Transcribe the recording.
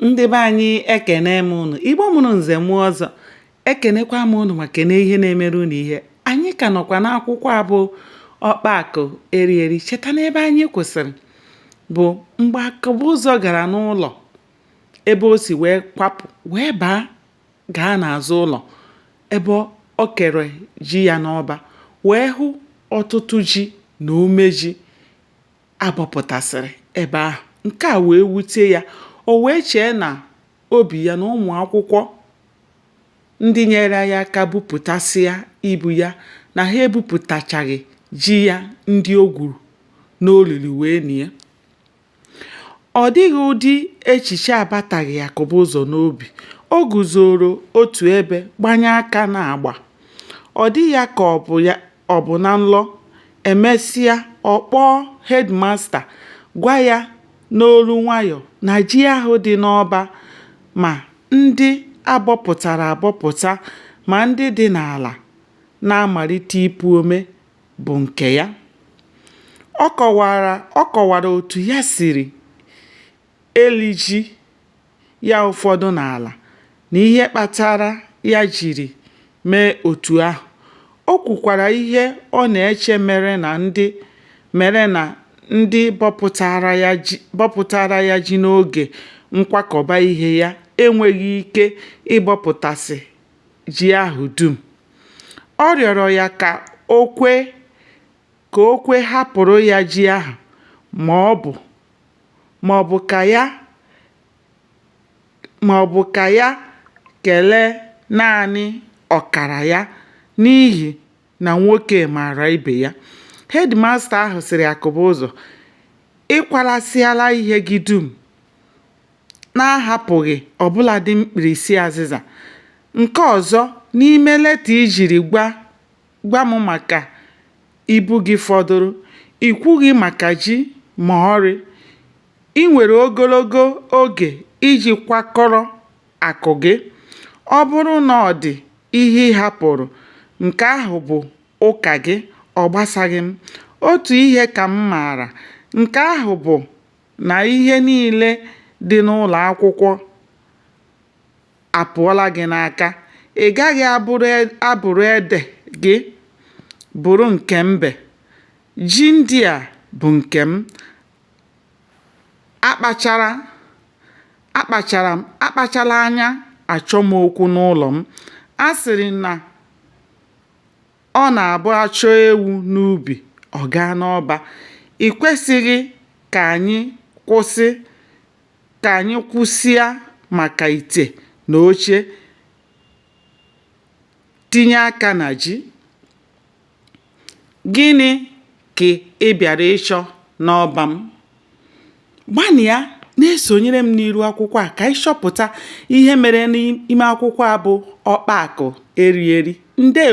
ndị be anyị ekene m ụnụ igbo mụrụ nze mụọ ọzọ ekenekwa m ụnụ ma kene ihe na-emere ụnụ ihe anyị ka nọkwa n'akwụkwọ a bụ ọkpa akụ eri eri cheta n'ebe anyị kwụsịrị bụ mgbe akụbụzọ gara n'ụlọ ebe o si wee kwapụ wee baa gaa n'azụ ụlọ ebe o kere ji ya n'ọba wee hụ ọtụtụ ji na ome ji a bọpụtasịrị ebe ahụ. Nke a wee wute ya, o wee chee n'obi ya na ụmụ akwụkwọ ndị nyere ya aka bupụtasịa ibu ya na ha ebupụtachaghị ji ya ndị o gwuru n'olulu wee nie. Ọ dịghị ụdị echiche abataghị Akụbụzọ n'obi. O guzooro otu ebe gbanye aka n'agba. Ọ dị ya ka ọ bụ ya Ọ bụ na nlọ, e mesịa, ọ kpọọ headmaster gwa ya n'olu nwayọ na ji ahụ dị n'ọba ma ndị a bọpụtara abọpụta ma ndị dị n'ala na-amalite ipu ome bụ nke ya. Ọ kọwara ọ kọwara otu ya siri eli ji. ya ụfọdụ n'ala na ihe kpatara ya jiri mee otu ahụ. O kwukwara ihe ọ na-eche mere na ndị mere na ndị bọpụtara ya ji bọpụtara ya ji n'oge nkwakọba ihe ya enweghị ike ịbọpụtasị ji ahụ dum. Ọ rịọrọ ya ka o kwe ka o kwe hapụrụ ya ji ahụ ma ọ bụ ma ọ bụ ka ya ma ọ bụ ka ya kelee naanị ọkara ya n'ihi na nwoke maara ibe ya. Headmaster ahụ sịrị Akụbụzọ, Ị kwalasịala ihe gị dum na-ahapụghị ọ bụladị mkpirisi azịza. Nke ọzọ, n'ime leta i jiri gwa gwa m maka ibu gị fọdụrụ. I kwughị maka ji ma ọlị. I nwere ogologo oge iji kwakọrọ akụ gị. Ọ bụrụ na ọ dị ihe ị hapụrụ, nke ahụ bụ ụka gị, ọ gbasaghị m. Otu ihe ka m maara, nke ahụ bụ na ihe niile dị n'ụlọ akwụkwọ apụọla gị n'aka. Ị gaghị abụrụ e, abụrụ ede gị bụrụ nke mbe. Ji ndị a bụ nke m. Akpachara akpachara m akpachala anya achọ m okwu n'ụlọ m. A sịrị na ọ na-abụ a chụọ ewu n'ubi, ọ gaa n'ọba. I kwesịghị ka anyị kwụsị ka anyị kwusịa maka ite na oche tinye aka na ji gịnị ka ị bịara ịchọ n'ọba m gbanịa na-esonyere m n'iru akwụkwọ a ka anyị chọpụta ihe mere n'ime akwụkwọ a bụ ọkpa akụ eri eri ndewo